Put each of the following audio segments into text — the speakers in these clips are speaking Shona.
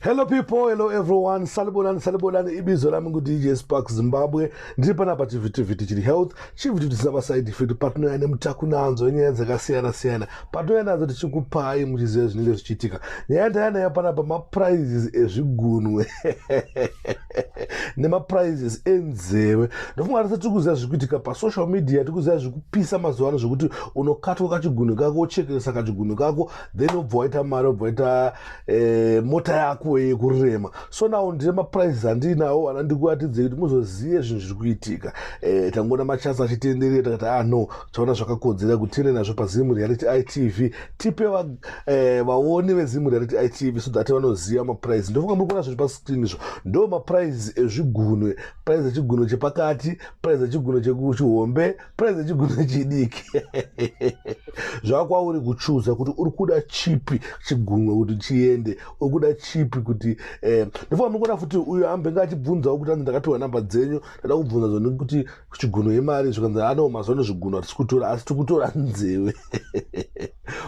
hello people hello everyone salibonani salibonani ibizo lami ngudj spark zimbabwe ndiri panapa chivhitivhiti chiri health chivhitivhiti chisina maside effect patinouya nemutaku nanzo enyaya dzakasiyana siyana patinouya nadzo tichikupai muchiziva zvinenge zvichiitika nyaya yataya nayo panapa maprizes ezvigunwe nemaprizes enzeve ndofunga tese tiri kuziva zviri kuitika pasocial media tiri kuziva zviri kupisa mazuva ano zvekuti unokatwa kachigunwe kako uchekeresa kachigunwe kako then obva waita mari obva waita eh, mota yako yekurema so now ndine maprices andiinawo ana ndikuratidze kuti muzozive zvinhu zviri kuitika eh, tangoona machance achitenderera takati ah no taona zvakakodzera kuti tiende nazvo pazimu reality itv tipe eh, vaoni vezimu reality itv so that vanoziva maprice ndofunga muri kuona zviri pascreen izvo ndo maprice ezvigunwe price echigunwe chepakati price echigunwe chekuchihombe praize chiguna chidiki zvakwauri kuchuza kuti uri kuda chipi chigunwe kuti chiende uri kuda chipi kuti eh, ndifoa mikuda futi uyo ambe nga achibvunzawo kuti anzi ndakapiwa namba dzenyu ndada kubvunza zoni kuti chiguno yemari zvikanzi anoo mazano zviguno hatisi kutora asi tikutora nzeve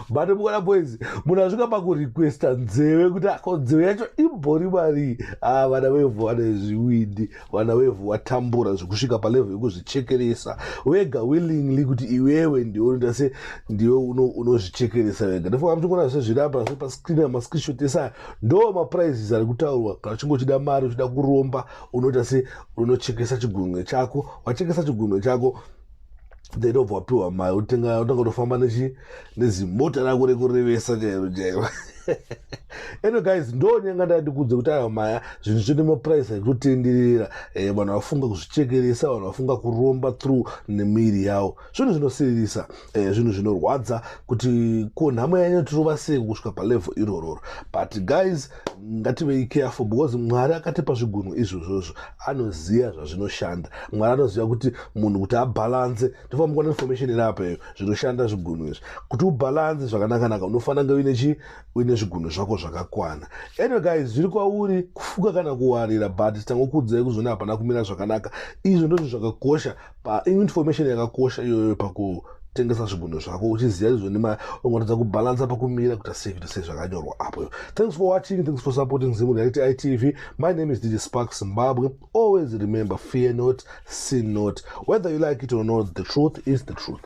but mukona boys munhu asvika pakurequesta nzeve kuti ako nzeve yacho imbori marii ah, vana vevhu vane zviwindi vana wevhu watambura zvekusvika palevho yekuzvichekeresa wega willingly kuti iwewe ndiwe unoita se ndiwe unozvichekeresa wega ndipo amuchingona sezviri apa zve pascreen amascreenshot esaya ndo maprizes ari kutaurwa kana uchinge uchida mari uchida kuromba unoita se unochekesa chigunwe chako wachekesa chigunwe chako then ndobva wapiwa mari otanga kutofamba nezimota rako rekurevesa chairo chairo eno guys ndonyenga ndandikudze kuti ayo maya zvinhu zvine maprice aitotenderera eh, vanhu eh, vafunga kuzvichekeresa vanhu vafunga kuromba through nemiri yawo zvinhu zvinosiririsa eh, zvinhu eh, zvinorwadza kuti ko nhamo yanyo tirova sei kusvika palevel irororo but guys ngativei careful because mwari akatipa zvigunwe izvozvozvo anoziva zvazvinoshanda mwari anoziva kuti munhu kuti abhalanse tofana mukuona information iri apa iyo zvinoshanda zvigunwe izvi kuti ubhalanse zvakanakanaka unofanira kunge uine chii uine zvigunwe zvako zvakakwana anyway guys zviri kwauri kufuka kana kuwarira but tangokuudzai kuzvona hapana kumira zvakanaka izvo ndozvo zvakakosha Pa information yakakosha iyoyo paku tengesa zvigunwe zvako uchiziva izvo nema ungatadza kubalansa pakumira kuita sei kuita sei zvakanyorwa apo thanks for watching thanks for supporting zimu reality itv my name is dj spark zimbabwe always remember fear not sin not whether you like it or not the truth is the truth